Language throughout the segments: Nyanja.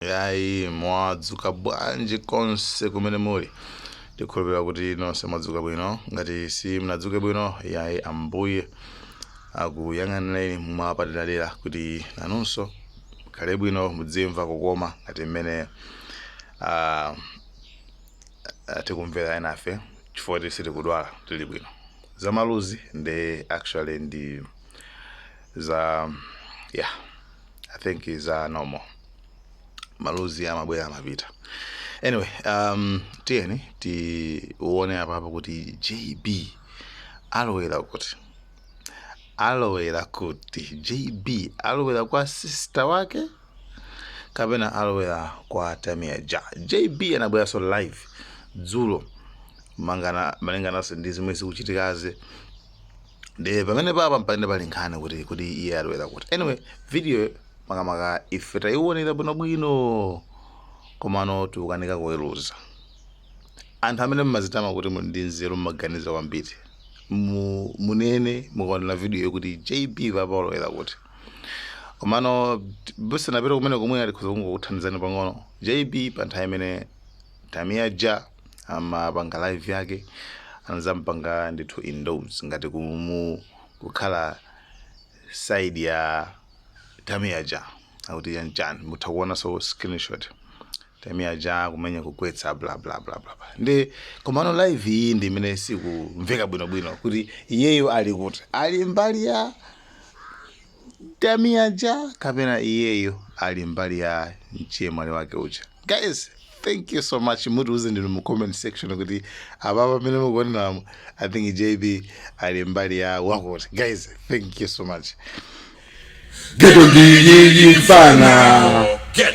yayi mwadzuka bwanji konse kumene muli tikhulupirira kuti nonse mwadzuka bwino ngati simnadzuke bwino yayi ambuye akuyang'anireni mwapaderadera kuti nanunso mukhale bwino mudzimva kukoma ngati mmene ah, ah, tikumvera enafe chifukwa sitikudwala tili bwino zamaluzi ndi actually ndi za yeah i think it's uh, normal maluzi amabwera amapita anyway um, tiyeni tione apapa kuti jb alowera kuti alowera kuti jb alowera kwa sister wake kapena alowera kwa tamia ja jb anabweranso live dzulo mangana malingananso ndi zimene zikuchitikazi ndiye pamene papa mpamene pali nkhani yakuti iye alowera kuti anyway video makamaka ife tayiwonera bwinobwino komano tikukanika kuweruza anthu amene mmazitama kuti muli ndi nzeru mmaganiza kwambiri mu- munene mukaonera video kuti jb papa walowera kuti komano musanapite kumene komwe alikhoza kungokuthandizani pang'ono jb pa nthawi imene tamia ja amapanga live yake anazampanga ndithu endorse ngati kumu kukhala side ya tamia ja akuti chanichani mutha kuonaso screenshot tamia ja kumenya kugwetsa bla bla bla bla bla. nde komano live iyi ndi imene sikumveka bwinobwino kuti iyeyo ali kuti ali mbali ya tamia ja kapena iyeyo ali mbali ya mchemwali wake uja guys thank you so much mutiuze ndinu mu comment section kuti apa pamene mukuoneramu i think jb ali mbali ya wakuti guys thank you so much ghetto ndi inuyo mfana Get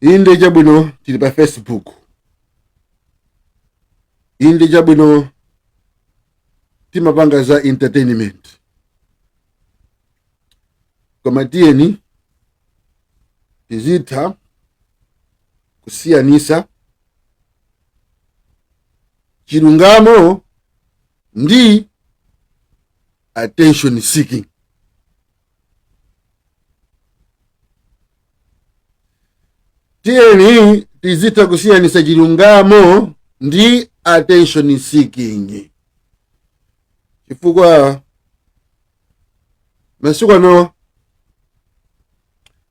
inde chabwino tili pa facebook inde chabwino timapanga za entertainment koma tiyeni tizitha kusiyanisa chilungamo ndi attention seeking tiyeni tizitha kusiyanisa chilungamo ndi attention seeking chifukwa masiku ano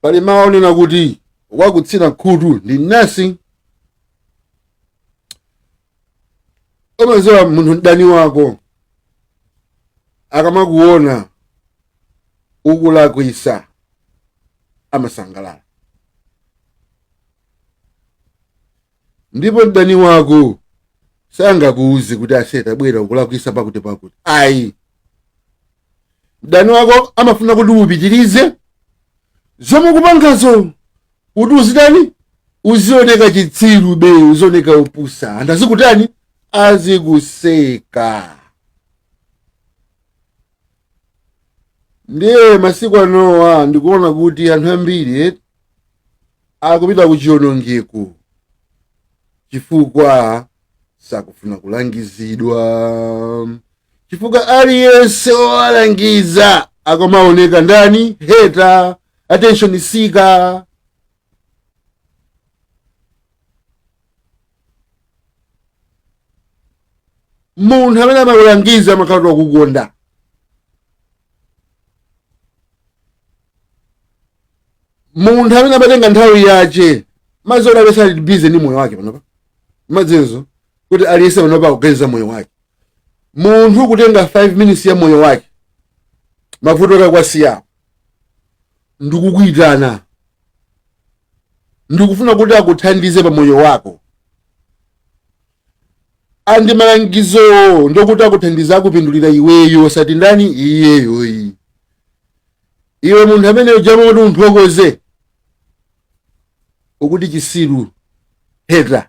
pali mawu onena kuti wakutsina khutu ndi mnasi umaziwa munthu mdani wako akamakuona ukulakwisa amasangalala ndipo mdani wako sangakuuze kuti ase tabwera ukulakwisa pakuti pakuti ayi mdani wako amafuna kuti upitirize zomwe ukupangazo kuti uzitani uzioneka chitsirube uzioneka opusa anthu azikutani azikuseka ndiye masiku anowa ndikuona kuti anthu ambiri eh, akupita ku chionongeko chifukwa sakufuna kulangizidwa chifukwa aliyense owalangiza akumaoneka ndani hater attention seeker munthu amene amakulangiza amakhala kuti akukonda munthu amene amatenga nthawi yace madziwa kuti aliyese ali busy ndi moyo wake panopa madziwanso kuti aliyese panopa akuganiza moyo wake munthu kutenga 5 minutes ya moyo wake mavuto ake kuwasiya ndikukuitana ndikufuna kuti akuthandize pa moyo wako and malangizowo ndokuti akuthandiza akupindulira iweyo osati ndani iyeyo ayi iwe munthu amene uja mmalo moti umuthokoze ukuti chisiru hater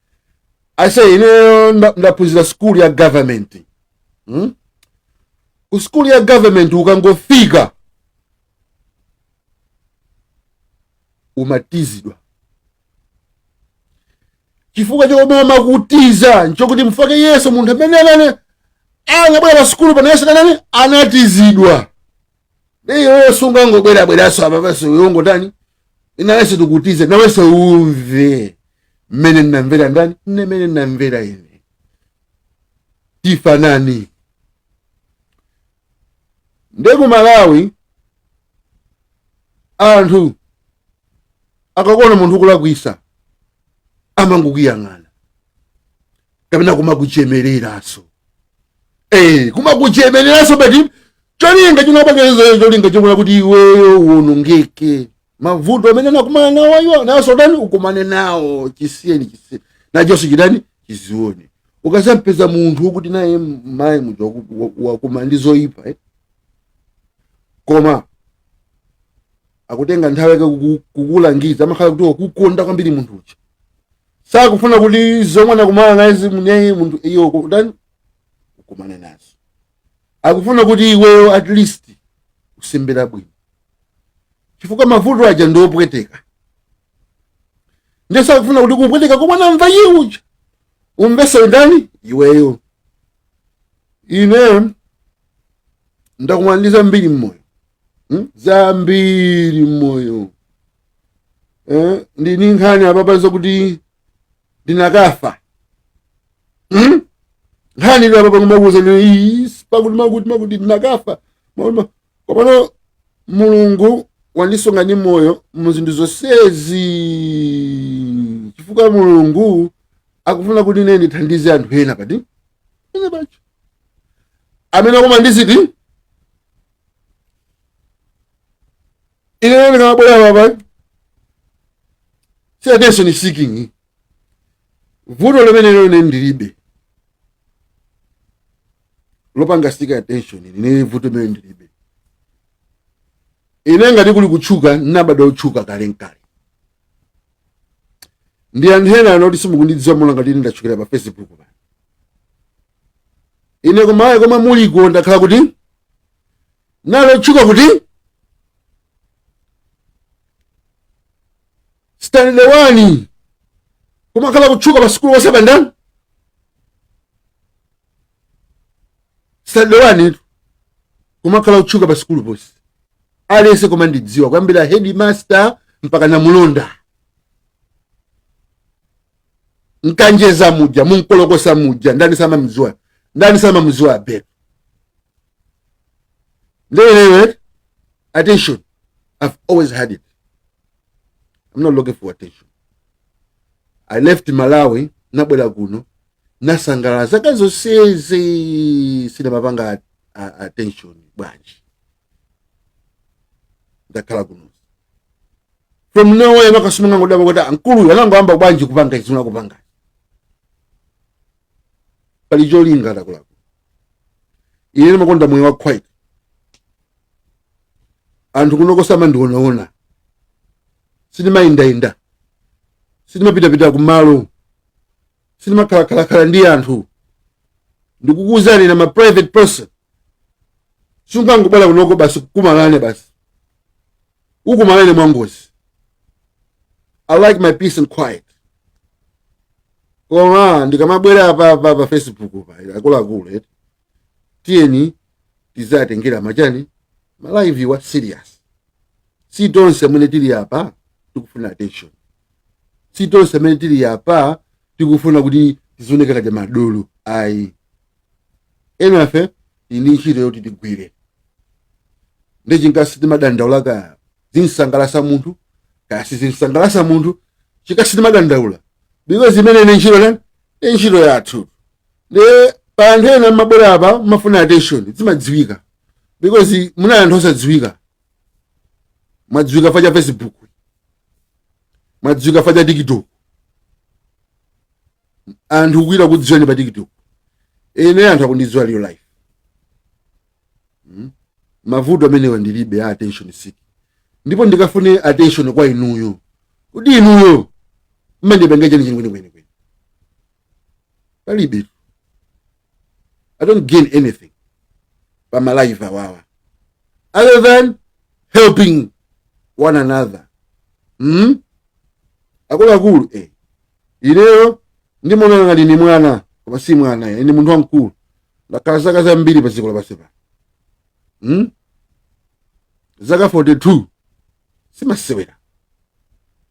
ase ineyo nda- ndaphunzira skulu ya government hmm? ku skulu ya government ukangofika umatizidwa chifukwa chomwe amakutiza nchokuti chifukwa iyeso munthu amene amene anabwera pa skulu pano iyeso anatani anatizidwa nde iweyo sungangobwerabweranso apa basi ungotani nawenso tikutize nawenso umve mmene ndinamvera ndani ine mmene ndinamvera ine tifanani nde ku malawi anthu akakuona munthu ukulakwisa amangokuyang'ana kapena kumakuchemereraso eh kumakuchemereraso pali cholinga chinachake cholinga chofuna kuti iweyo uonongeke mavuto amene anakumana nawo iwo naso tani ukumane nawo chisiyeni chisiyeni nachonso chitani chizione ukasampeza munthu wokuti naye mayi muja waku- wa- wakumana ndi zoyipa eh? koma akutenga nthawi yake kuku- kukulangiza amakhala kuti wakukonda kwambiri munthu uja sakufuna kuti zomwe anakumana nazi mwiniyo munthuyo kutani ukumane nazo akufuna kuti iweyo at least uzembere bwino chifukwa mavuto aja ndi opweteka ndiye sakufuna kuti kupweteka komwe anamva iye uja umveso ndani iweyo ine ndakumana ndi zambiri mmoyo hmm? zambiri mmoyo eh? ndili ndi nkhani apapa zokuti ndinakafa hmm? nkhani ino apapa kumakuuzani pakuti makuti makuti ndinakafa Mwaona? komapano mulungu wandisunga ndi moyo mu zinthu zonsezi chifukwa mulungu akufuna kuti ine ndithandize anthu ena pati ena pacho amene akumana ndi ziti ine ndikamabwera apa si attention seeking vuto limenelo ine ndilibe lopanga seek attention ine vuto limene ndilibe ine ngati kuli kutchuka nabada otchuka kale nkale ndi anthu ena anoti simukundidziwa muona ngati ine ndatchukira pa facebook pano ine kumayi komwe muliko ndakhala kuti ndili otchuka kuti standard 1 kumakhala kutchuka pa sukulu ponse pandani standard 1 tu kumakhala kutchuka pa sukulu ponse aliyense kumandidziwa kuyambira headmaster mpaka namulonda m'Kanjedza muja mu Nkolokosa muja ndani samamziwa ndani samamziwa abel nde ineyo attention i've always had it i'm not looking for attention i left malawi nabwera kuno nasangalala zaka zonsezi sindimapanga a- a- attention bwanji ndakhala kuno from nowhere makosana angodabwa kuti ankuluyo anangoyamba bwanji kupanga izi sinakupanga pali cholinga ndakulako ine ndimakonda moyo wa quiet anthu kunoko samandionaona sindimayendayenda sindimapitapita kumalo sindimakhalakhalakhala ndi anthu ndikukuuzani I'm a private person sungangobwera kunoko basi tikumane basi tikumane mwangozi i like my peace and quiet koma ndikamabwera pa, pa, pa facebook pa akuluakulu eti tiyeni tizitengera machani malive awa serious si tonse amene tili apa tikufuna attention si tonse amene tili apa tikufuna kuti tizioneka ngati madolo ayi enafe tili ndi ntchito yoti tigwire nchifukwa chake timadandaula kaya zimsangalasa munthu kaya sizimsangalasa munthu chifukwa chake timadandaula because imeneyi ndi ntchito nani ndi ntchito yathu nde pali anthu ena mmabwera apa mmafuna attention zimadziwika because munali anthu osadziwika mwadziwika chifukwa cha facebook mwadziwika chifukwa cha tiktok anthu kuita kudziwani pa tiktok ine anthu akundidziwa real life mm? mavuto amenewa ndilibe a attention seek ndipo ndikafune attention kwa inuyo kuti inuyo mundipange chani chani kwenikweni palibe i don't gain anything pa malive awawa other than helping one another hmm? akuluakulu eh. ineyo ndimaoneka ngati ndi mwana koma si mwana ine ndi munthu wamkulu ndakhala zaka zambiri pa dziko lapansi pano hmm? zaka 42 si masewera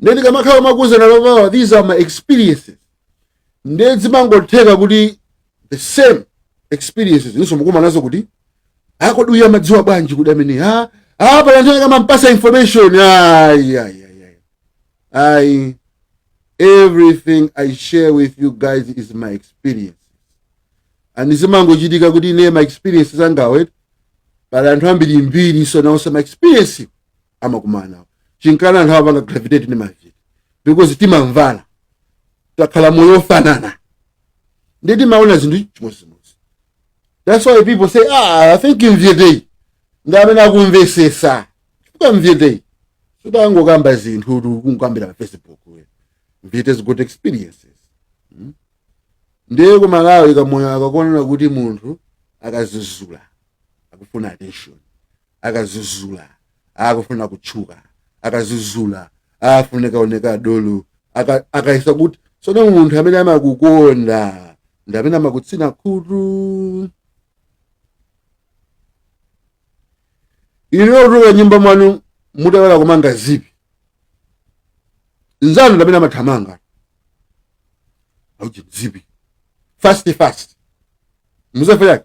nde ndikamakhala nkumakuuzani amenewa these are my experiences nde zimangotheka kuti the same experiences inunso mukukumana nazo kuti a kodi uyu amadziwa bwanji kuti amene pali anthu akamampasa information ayi ayi ayi ayi ayi everything i share with you guys is my experience and zimangochitika kuti ine ma experiences angawa pali anthu ambirimbiri so nawonso ma experience amakumana nawo nchifukwa chake anthu amapanga gravitate ndi maviri because timamvana takhala moyo ofanana ndi timaona zinthu chimodzimodzi that's why people say ah i think mvyeteyi ndi amene akumvesesa chifukwa mvyeteyi sudangokamba zinthu kuti kungokambira pa facebook we. mvyete has got experiences Hmm? ndiye ku malawi kamoyo kakuonera kuti munthu akazizula akufuna attention akazuzula akufuna kutchuka akazuzula afuna kuoneka dolo aka- akayesa kuti sono munthu amene amakukonda ndi amene amakutsina khutu inu mutuluka nyumba mwanu mutaiwala kumanga zipi mnzanu ndamene amathamanga auje zipi fast fast muzafera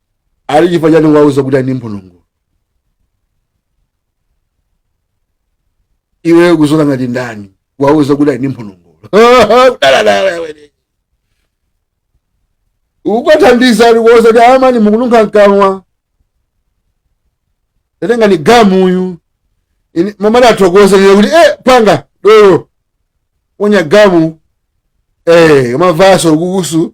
eti chifukwa chani wandiuza kuti ali ndi mphonongolo iwe kuzola ngati ndani wandiuza kuti ali ndi mphonongolo daladala iwe akuthandiza ali kukuuza kuti amayi mukununkha mkamwa tatengani gamu uyu Ini- mumati kuthokoza lile kuti eh panga dolo wonya gamu eh mavaso kukusu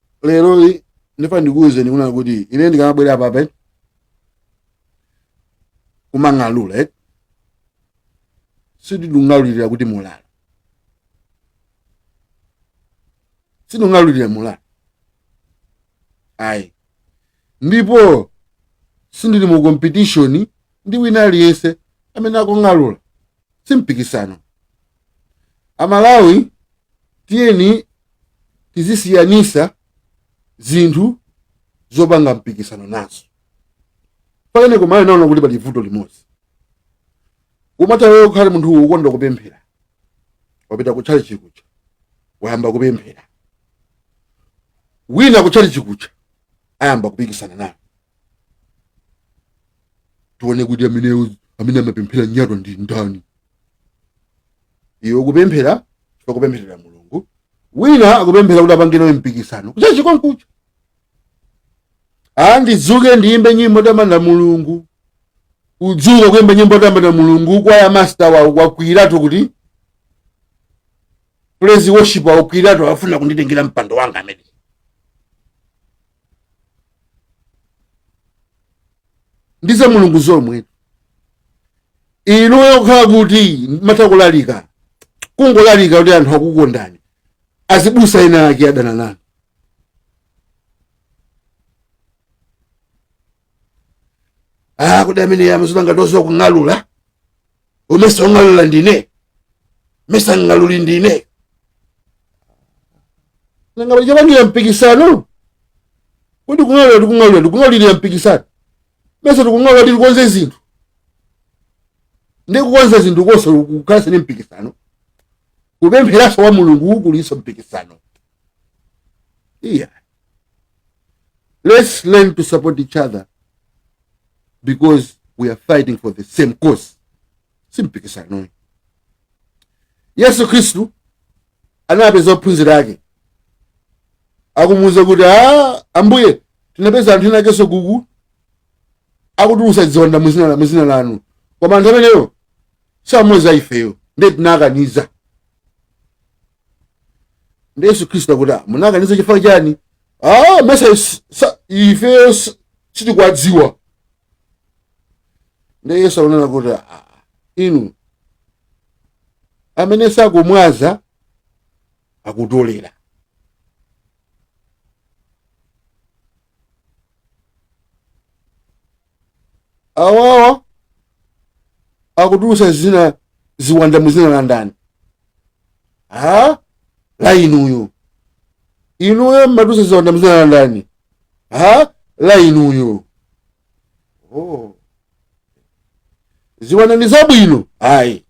lero li- ndifuna ndikuwuzeni kunena kuti ine ndikamabwera apa kumang'alula eh? sinding'alulira kuti mulala sinding'alulira mulala ayi ndipo sindili mu competition ndi wina aliyense amene akung'alula si mpikisano amalawi tiyeni tizisiyanisa zinthu zopanga mpikisano nazo pakali pano ndaona kuti pali vuto limodzi umati iweyo ukhale munthu wokonda kupemphera wapita ku tchalitchi kuja wayamba kupemphera wina ku tchalitchi kuja ayamba kupikisana naye tione kuti amene amapemphera nyatwa ndi ndani iwe ukupemphera chifukwa kupempherera mulungu wina akupemphera kuti apange nawe mpikisano kutchalitchi konkuja a ndidzuke ndiyimbe nyimbo yotamanda mulungu udzuka kuyimba nyimbo yotamanda mulungu kwaya master wawo wakwiyiratu kuti praise worship wakwiyiratu afuna kunditengera mpando wanga ameneyi ndi za mulungu zomwe inuyo kukhala kuti mumatha kulalika kungolalika kuti anthu akukondani azibusa ena ake adana nanu ah kuti ameneyu amadziona ngati wodziwa kung'alula amesa ong'alula ndine mesa ng'aluli ndine nanga pali chopangira mpikisano kodi kung'alula tikung'alulaku tikung'alulira mpikisano mesa tikung'alula kuti tikonze zinthu ndikukonza zinthu konso kukhalanso ndi mpikisano kupempheranso kwa mulungu kulinso mpikisano iya Let's learn to support each other because we are fighting for the same cause. Simpikisano. Yesu Kristu anapeza ophunzira ake akumuuza kuti "Ah, ambuye tinapeza anthu ena akenso uku akutulusa ziwanda muzina la- muzina lanu koma anthu ameneyo samoza ifeyo ndiye tinakaniza ndi yesu khristu akuti "Ah, munakaniza chifukwa chani ah, mesa is- sa- ifeyo s- sitikuwadziwa nde yesu akunena kuti "Ah, inu amene sakumwaza akutolera awawa akutulusa zina ziwanda mu zina la ndani ah la inuyo inuyo mmatulusa ziwanda mu zina la ndani ah la inuyo oh. ziwanda ndi zabwino ayi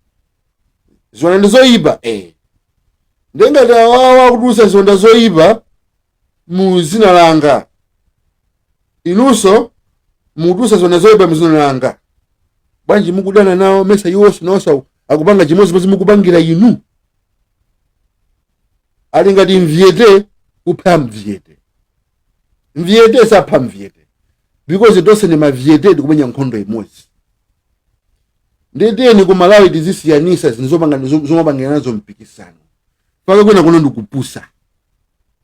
ziwanda ndi zoyipa eh. nde ngati awawa akutulusa ziwanda zoyipa mu zina langa inunso mukutulutsa ziwanda zoyipa mu zina langa bwanji mukudana nawo mesa iwonso nawonso akupanga chimodzimodzi mukupangira inu ali ngati mvyete kupha mvyete mvyete sapha mvyete because tonse ndi mavyete tikumenya nkhondo imodzi nde tiyeni ku malawi tizisiyanisa zinthu zomapangira nazo mpikisano pakakhala kuno ndi kupusa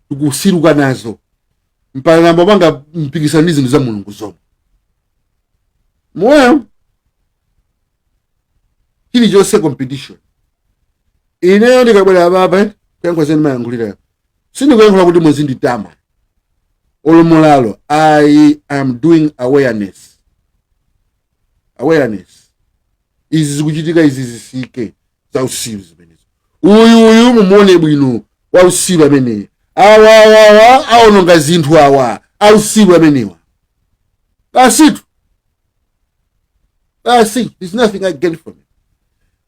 tikupusiruka nazo mpaka nkumapanga mpikisano ndi zinthu za mulungu zomwe moyo chilichonse competition ineyo ndikabwera apape kuyankhula zimene ndimayankhula sindikuyankhula kuti muzinditama olo m'modzi i am doing awareness awareness izi zikuchitika izi zisiyike za usiru zimenezo uyu uyu mumuone bwino wa usiru ameneyi awa awa awa aononga zinthu awa a usiru amenewa basitu basi there's nothing i gain from it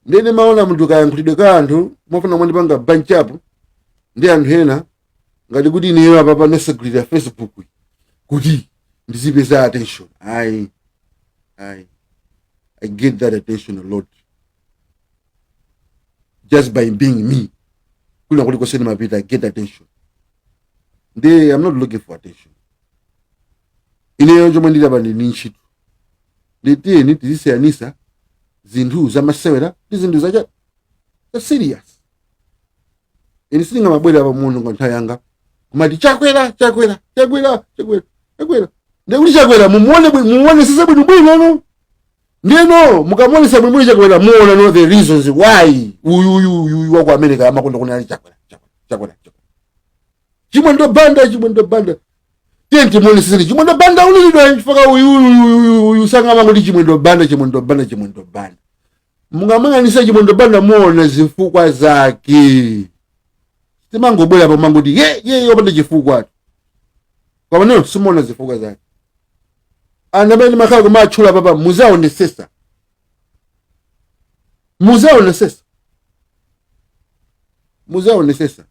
nde ine ndimaona munthu kayankhulidwe ka anthu mufuna muzindipanga bunch up ndi anthu ena ngati kuti ineyo apa ndinasegulira facebook kuti ndizipeza attention ayi ayi i get that attention a lot just by being me kwina kulikonse ndimapita i get attention nde i'm not looking for attention ineyo chomwe ndili apa ndi ntchito nde tiyeni tizisiyanisa zinthu zamasewera ndi zinthu za za serious ine sindingamabwera pa munthu n'kutaya nthawi yanga kumati chakwera chakwera chakwera chakwera chakwera ndiye kuti chakwera mumuone bwi- mumuonesese bwinobwino ndeno mukamuonesa bwinobwino chakwera muona no the reasons why uyu uyu uyu uyu waku america amakonda kunena chakwera chakwera chakwera chakwera chimwendo banda chimwendo banda tiye timuonesese ndi chimwendo banda ulilidwa chifukwa uyu uyu uyu uyu sangamati chimwendo banda chimwendo banda chimwendo banda mukamuyang'anisa chimwendo banda muona zifukwa zake sitimangobwera pano n'kuti ye ye ye opanda chifukwa koma mwina simuona zifukwa zake anthu amene ndimakhala kumatchula apapa muzaonesesa muzaonesesa muzaonesesa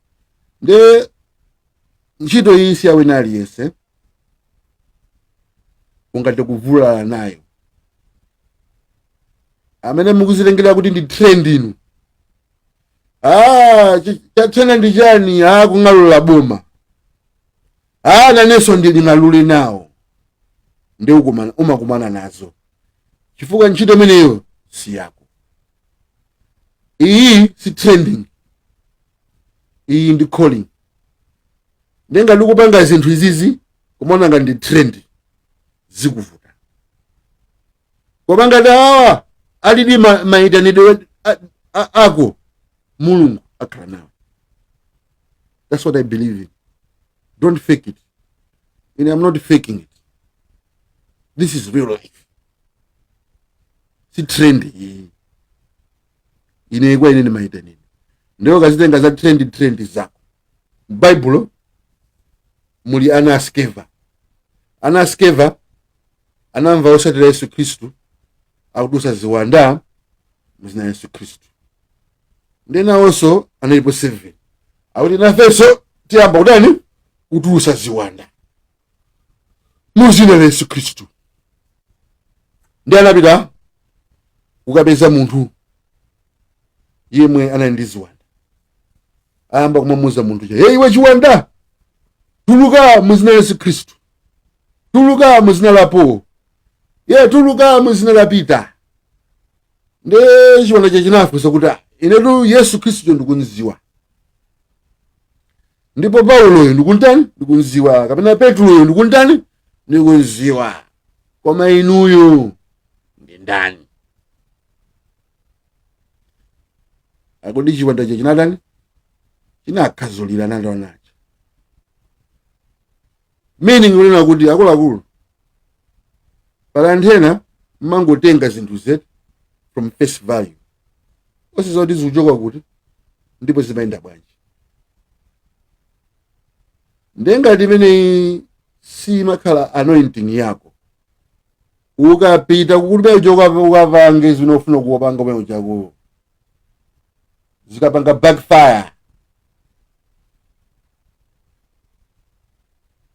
nde ntchito iyi si yawina aliyense ungathe kuvulala nayo amene mukuzitengera kuti ndi trend inu ah chi- chatrenda ndi chani ah kung'alula boma ah nanenso ndiling'alule nawo nde ukumana- umakumana nazo chifukwa ntchito imeneyo si yako iyi si trending iyi ndi calling ndiye ngati ukupanga zinthu izizi kumaona ngati ndi trend zikuvuta koma ngati awa alidi ma- mayitanidwe a- a- ako mulungu akhala nawo that's what i believe in don't fake it and i'm not faking it this is real life si trend iyi ine kwa ine ndi mayitanidwe ndiye ukazitenga za trend trend zako m'baibulo muli ana a skeva ana a skeva anamva otsatira yesu khristu akutulusa ziwanda muzina yesu khristu ndiye nawonso analipo 7 akuti nafenso tiyamba kutani kutulusa ziwanda mu dzina la yesu khristu ndi anapita kukapeza munthu yemwe anali ndi ziwanda ayamba kumamuza munthu uja hey, iwe chiwanda tuluka mu dzina la yesu khristu tuluka mu dzina la paulo ye tuluka mu dzina la pita nde chiwanda chija chinafunsa kuti "Ah, inetu yesu khristuyo ndikunziwa ndipo pauloyo ndikuntani ndikunziwa kapena petuloyo ndikuntani ndikunziwa koma inuyo ndi ndani akuti chiwandacho chinatani chinakhadzulirana ndi anawo meaning kunena kuti akuluakulu pali nthawi zina mmangotenga zinthu just from face value osadziwa kuti zikuchoka kuti ndipo zimayenda bwanji ndiye ngati imeneyi simakhala anointing yako ukapita kukuti uja ukapange zimene ukufuna kupanga kumene uchako zikapanga backfire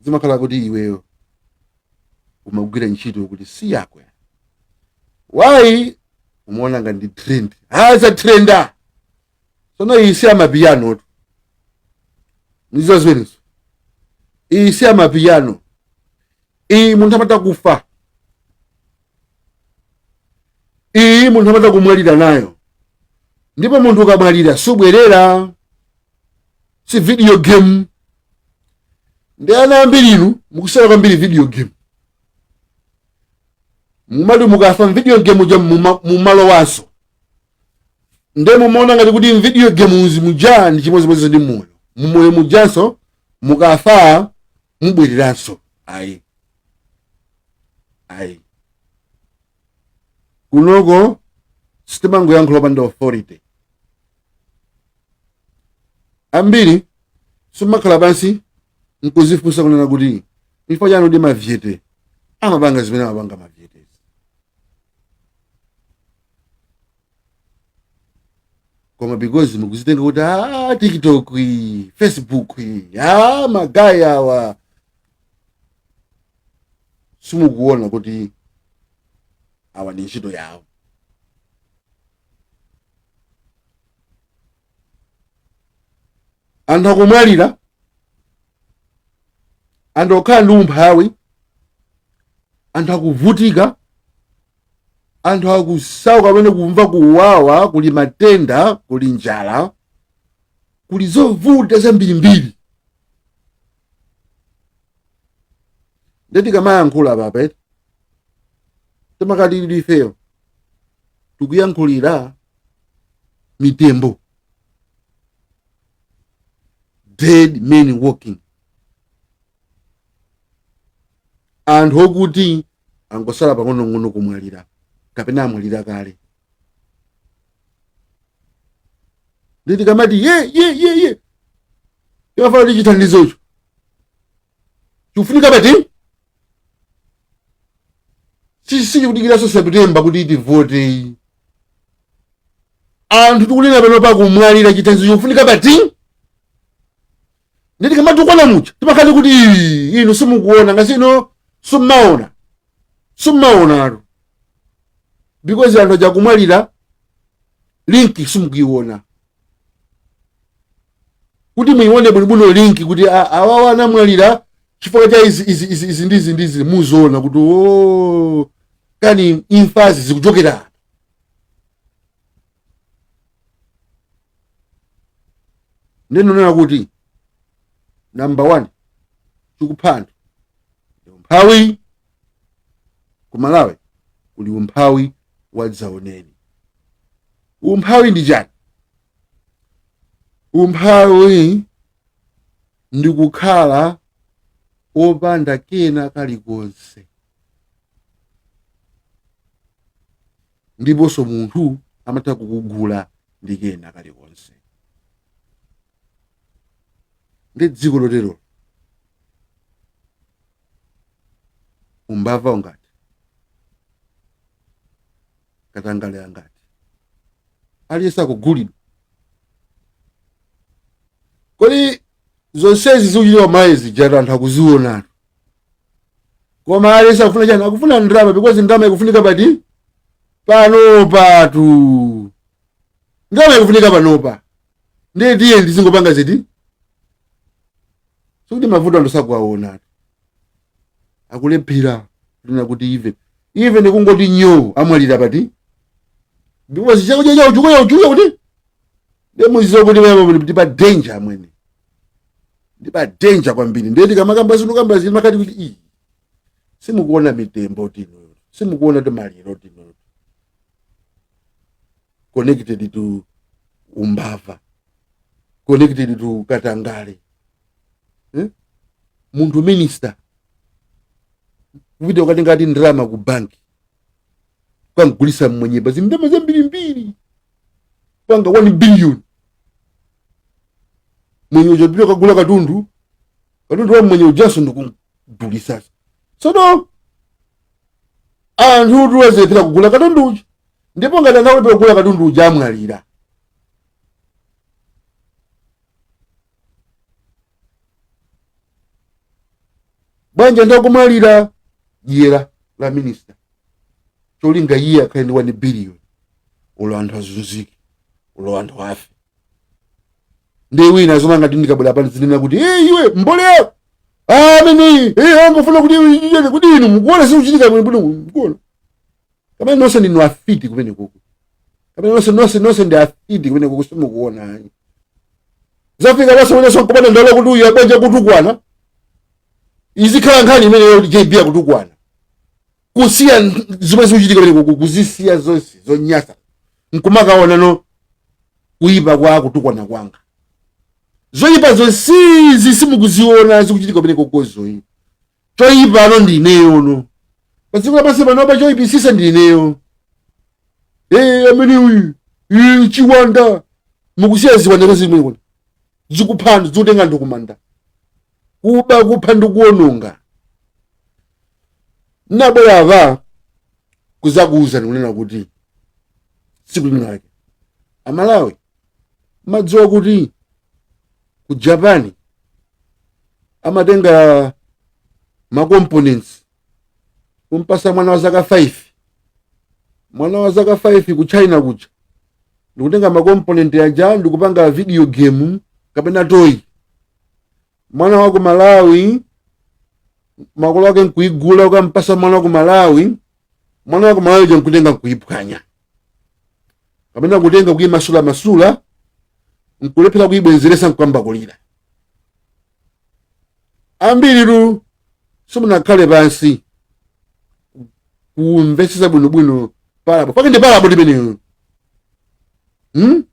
zimakhala kuti iweyo umagwira ntchito yokuti si yako wayi umaona ngati ndi trend azatrenda sono iyi si amapiyanotu ndizo zimenezo iyi si amapiyano iyi munthu amatha kufa iyi munthu amatha kumwalira nayo ndipo munthu ukamwalira subwerera si video game nde ana ambiri inu mukusewera kwambiri video game mumati mukafa mvideo game uja mumalowanso nde mumaona ngati kuti mvideo games muja ndi chimodzimodzi ndi moyo mumoyo mujanso mukafa mubwereranso ayi ayi kunoko sitimangoyankhula opanda authority ambiri simakhala pansi nkuzifunsa kunena kuti chifukwa chani mavyete amapanga zimene amapanga mavyetezi koma because mukuzitenga kuti a tiktok, facebook, a magaye awa simukuona kuti awa ndi ntchito yawo anthu akumwalira anthu akukhala ndi umphawi anthu akuvutika anthu akusauka pamene kumva kuwawa kuli matenda kuli njala kuli zovuta zambirimbiri nde tikamayankhula apa eti timakhala ifeyo tikuyankhulira mitembo dead men walking anthu okuti angosala pang'onong'ono kumwalira kapena amwalira kale nde tikamati ye ye ye ye timafuna kuti chithandizocho chikufunika pati si- sichikudikiranso septemba kuti tivote anthu tikunena pano akumwalira chithandizo chikufunika pati ndiye tikamatukwana muja timakhala tikuti "Ii, inu simukuona ngati inu simmaona simmaonatu because anthu aja akumwalira linki simukuiona kuti muione bwinobwino linki kuti a- awawa anamwalira chifukwa cha izi izi izi izi ndizi ndizi muziona kuti o kani imfazi zikuchokera apa ndikunena kuti namba one chikupha anthu ndi umphawi ku malawi kuli umphawi wadzaoneni umphawi ndi chani umphawi ndi kukhala opanda kena kalikonse ndiponso munthu amatha kukugula ndi kena kalikonse ndi dziko loterolo umbava ungati katangale angati aliyense akugulidwa kodi zonsezi zikuchitika mayazi zija anthu akuzionatu koma aliyense akufuna chani akufuna ndalama because ndalama ikufunika pati panopatu ndalama ikufunika panopa ndiye tiye ndizingopanga ziti sikuti mavuto anthu sakuwaona akulephera lina kuti even even kungoti nyo amwalira bad because chakudya chao chikuya uchuya kuti ndiye mudziwe kuti wewe ndi pa danger amwene ndi pa danger kwambiri ndiye tikamakamba zinthu kamba zinthu timakati kuti iyi simukuona mitembo inuyo simukuona kuti maliro inuyo connected to umbava connected to katangale eh? munthu minister kupita kukatenga ndalama ku banki kukamgulitsa mmwenye pa zindalama zambirimbiri panga 1 billion mmwenye uja kupita kukagula katundu katundu wa mmwenye ujanso ndikugulitsa sono anthu atha azilephera kugula katundu uja ndipo ngati angalephere kugula katundu uja amwalira banja litha kumwalira dyera la minista cholinga iye akhale ndi 1 billion olo anthu azunzike olo anthu afe ndi wina azinena ngati ndikabwera pano ndizinena kuti "Eh, iwe mbolo yako amene angofuna kuti iwe iwe- kuti inu mukuona zikuchitika bwino bwino mukuona kapena nonse ndinu afiti kumenekuku kapena nonse nonse nonse ndi afiti kumenekuku simukuona ayi zafika basi mwenyeso nkupata ndalo kuti uyu abwenje kutukwana izikhala nkhani imeneyo kuti jb akutukwana kusiya zimene zikuchitika kumenekuku kuzisiya zonse zonyasa nkumakaonano kuyipa kwa kutukwana kwanga zoyipa zonsezi simukuziona zikuchitika kumeneko zoyipa choyipano ndi ineyo no pa dziko lapansi panopa choyipisisa ndi ineyo ee amene uyu ee, chiwanda mukusiya ziwanda zimene kuti zikuphani zikutenga anthu kumanda kuba kupha ndi kuononga nabwera apa kuzakuwuzani kunena kuti tsiku linalake amalawi madziwa kuti ku japan amatenga ma components kumpasa mwana wa zaka 5 mwana wa zaka 5 ku china kuja ndikutenga ma component aja ndikupanga video game kapena toy mwana wa ku malawi makolo ake nkuigula ukampasa mwana wa ku malawi mwana wa ku malawi uja nkutenga nkuiphwanya kapena kutenga kuyimasulamasula nkulephera kuyibwenzeretsa nkuyamba kulira ambiritu simunakhale pansi kumvetsetsa bwinobwino parable yake ndi parable imeneyo hmm?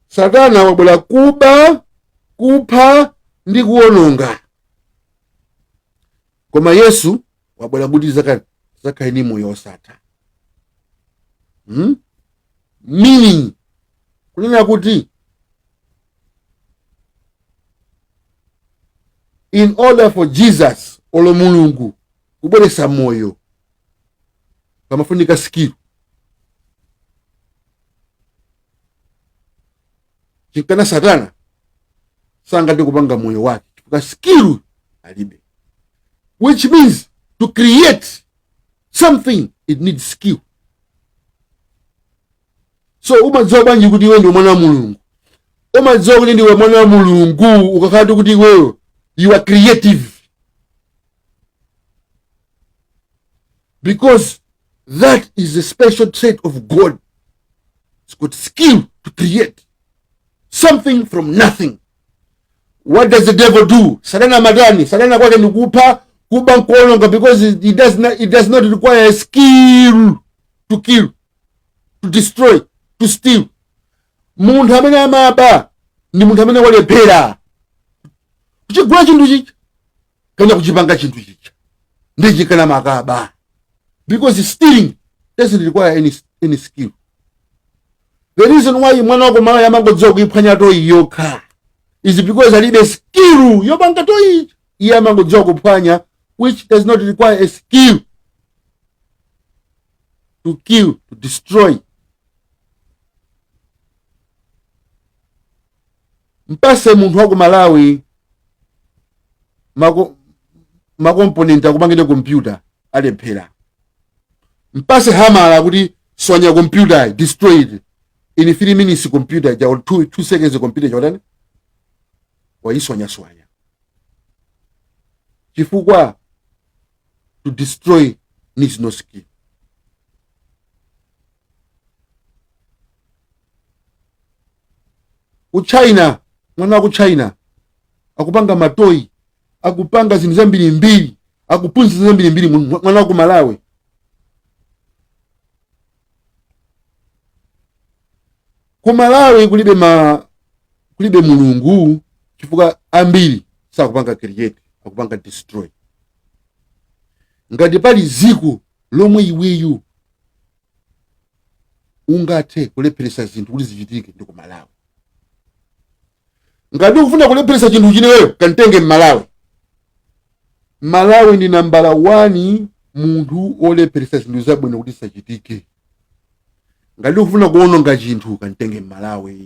satana wabwera kuba kupha ndi kuwononga koma yesu wabwera kuti azakhale ndi moyo osatha hmm? meaning kunena kuti in order for jesus olo mulungu kubweretsa moyo pamafunika skill chinkana satana sangathe kupanga moyo wake chifukwa skill alibe which means to create something it needs skill so umadziwa bwanji kuti iwe ndiwe mwana wa mulungu umadziwa kuti ndiwe mwana wa mulungu ukakhala kuti iweyo you are creative because That is a special trait of God. It's got skill to create something from nothing. What does the devil do? Satana madani. Satana kwake ni kupha, kuba nkuononga because it it does not, it does not require a skill to kill, to destroy, to steal. Munthu amene amaba ndi munthu amene walephera. Kuchigula chinthu chichi. kana kuchipanga chinthu chicha ndi chikana amakaba because stealing doesn't require any, any skill the reason why mwana wa ku malawi amangodziwa kuiphwanya toyi yokha is because alibe skill yopanga toyi iye amangodziwa kuphwanya which does not require a skill to kill to destroy mpase munthu wa ku malawi mako- makomponenti akupangire kompyuta alephera mpase hamala kuti swanya kompyuta destroy it in 3 minutes kompyuta ja or 2 2 seconds kompyuta ja utani wayiswanyaswanya chifukwa to destroy needs no skill ku china mwana wa ku china akupanga matoyi akupanga zinthu zambirimbiri akuphunzira zambirimbiri mwana wa ku malawi ku malawi kulibe ma kulibe mulungu chifukwa ambiri sakupanga create akupanga destroy ngati pali ziko lomwe iweyo ungathe kulepheretsa zinthu kuti zichitike ndi ku malawi ngati ukufuna kulepheretsa chinthu iweyo kantenge mmalawi mmalawi ndi nambala 1 munthu olepheretsa zinthu zabwino kuti zisachitike ngati ukufuna kuononga chinthu kantenge mmalawi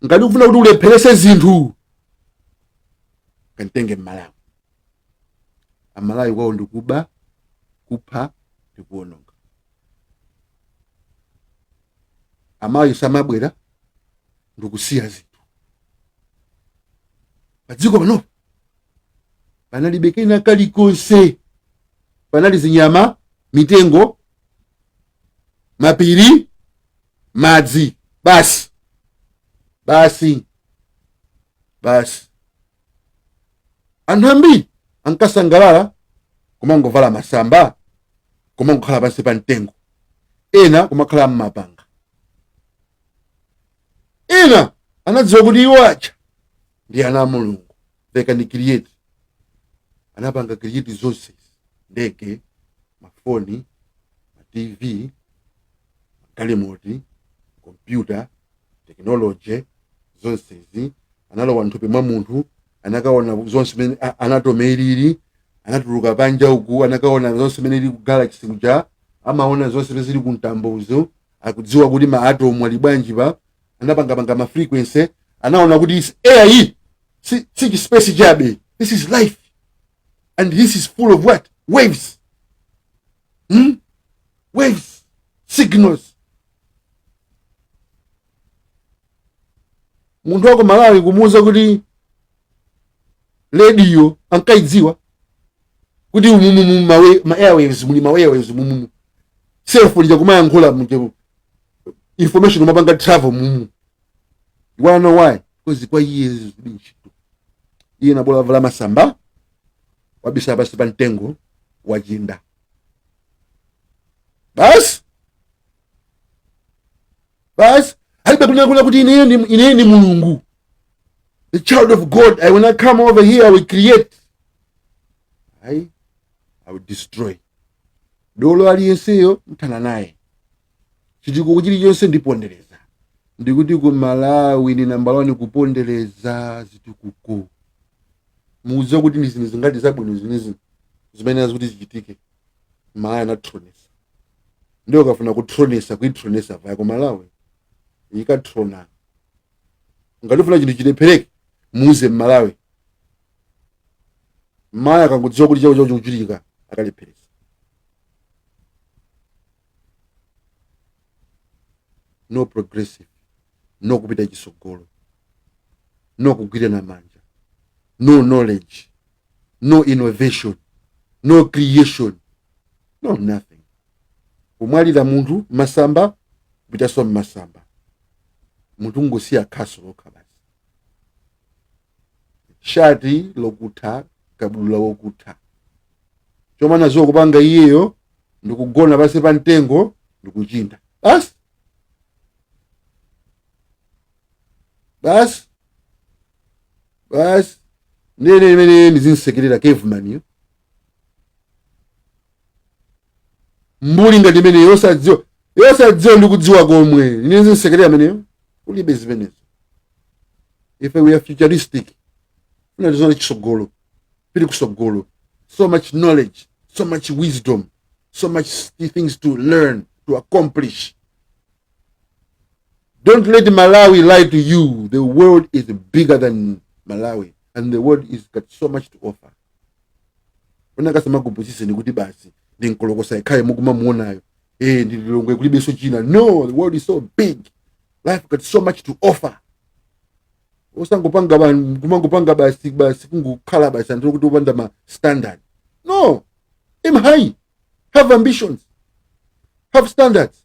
ngati ukufuna kuti ulepherese zinthu kantenge mmalawi amalawi kwawo ndikuba kupha ndi kuwononga amalawi samabwera ndikusiya zinthu padziko pano panalibe kena kalikonse panali zinyama mitengo mapiri madzi basi basi basi anthu ambiri ankasangalala kumangovala masamba kumangokhala pansi pa mtengo ena kumakhala m'mapanga ena anadziwa kuti iwo aja ndi ana a mulungu they can create anapanga create zonsezi ndege mafoni ma tv magalimoti, kompyuta, tekinoloje, zonsezi, analowa m'thupi mwa munthu, anakaona zonse mmene anatomy ilili, anatuluka panja uku, anakaona zonse mmene ili ku galaxy kuja, amaona zonse zimene zili ku mtambozo, akudziwa kuti ma atom ali bwanji pa, anapangapanga ma frequency, anaona kuti is air iyi, si, si chi space chabe, this is life, and this is full of what? Waves. hmm? waves signals munthu wa ku malawi kumuuza kuti rediyo ankaidziwa kuti umumumu ma airwaves muli ma airwaves mumumu cellphone ija kumayankhula mje information imapanga travel mumu you wanna know why because kwa iye zilibe ntchito iye bola wavala masamba wabisala pansi pa mtengo wachinda basi alibe kunena kunena kuti ineyo ndi mulungu the child of god i will not come over here i will create i will destroy dolo aliyenseyo mthana naye chitukuko chilichonse ndipondereza ndikuti ku malawi ni nambala wani kupondereza zitukuko mukudziwa kuti ndi zinthu zingati zabwino zinazake zimene zikuti zichitike malawi anatronesa ndiye ukafuna kutronesa kuitronesa vaya ku malawi ikatrona ngati ukufuna chinthu chilephereke muuze mmalawi mmalawi akangodziwa kuti chakuti chikuchitika akalepheresa no progressive no kupita chisogolo no kugwirana manja no knowledge no innovation no creation no nothing kumwalira munthu masamba kupitanso mmasamba munthu ngosiya khaso lokha basi shati lokutha kabudula wokutha chomwe amadziwa kupanga iyeyo ndikugona pansi pa mtengo ndikuchinda basi basi basi ndiye nde mmene ndizimsekerera caveman yo mbuli ngati imene yosadziwa yosadziwa ndi kudziwa komwe ine zinsekere ameneyo ulibe zimenezo ife we are futuristic funa tizoona chisogolo pili kusogolo so much knowledge so much wisdom so much things to learn to accomplish don't let malawi lie to you the world is bigger than malawi and the world is got so much to offer asamakupusiseni kuti basi ndi nkolokosa yekhayo mukumamuonayo eh ndi lilongwe kulibenso china no the world is so big life got so much to offer osangopanga kumangopanga basi basi kungokhala basi anthu oti opanda ma standard no aim high have ambitions have standards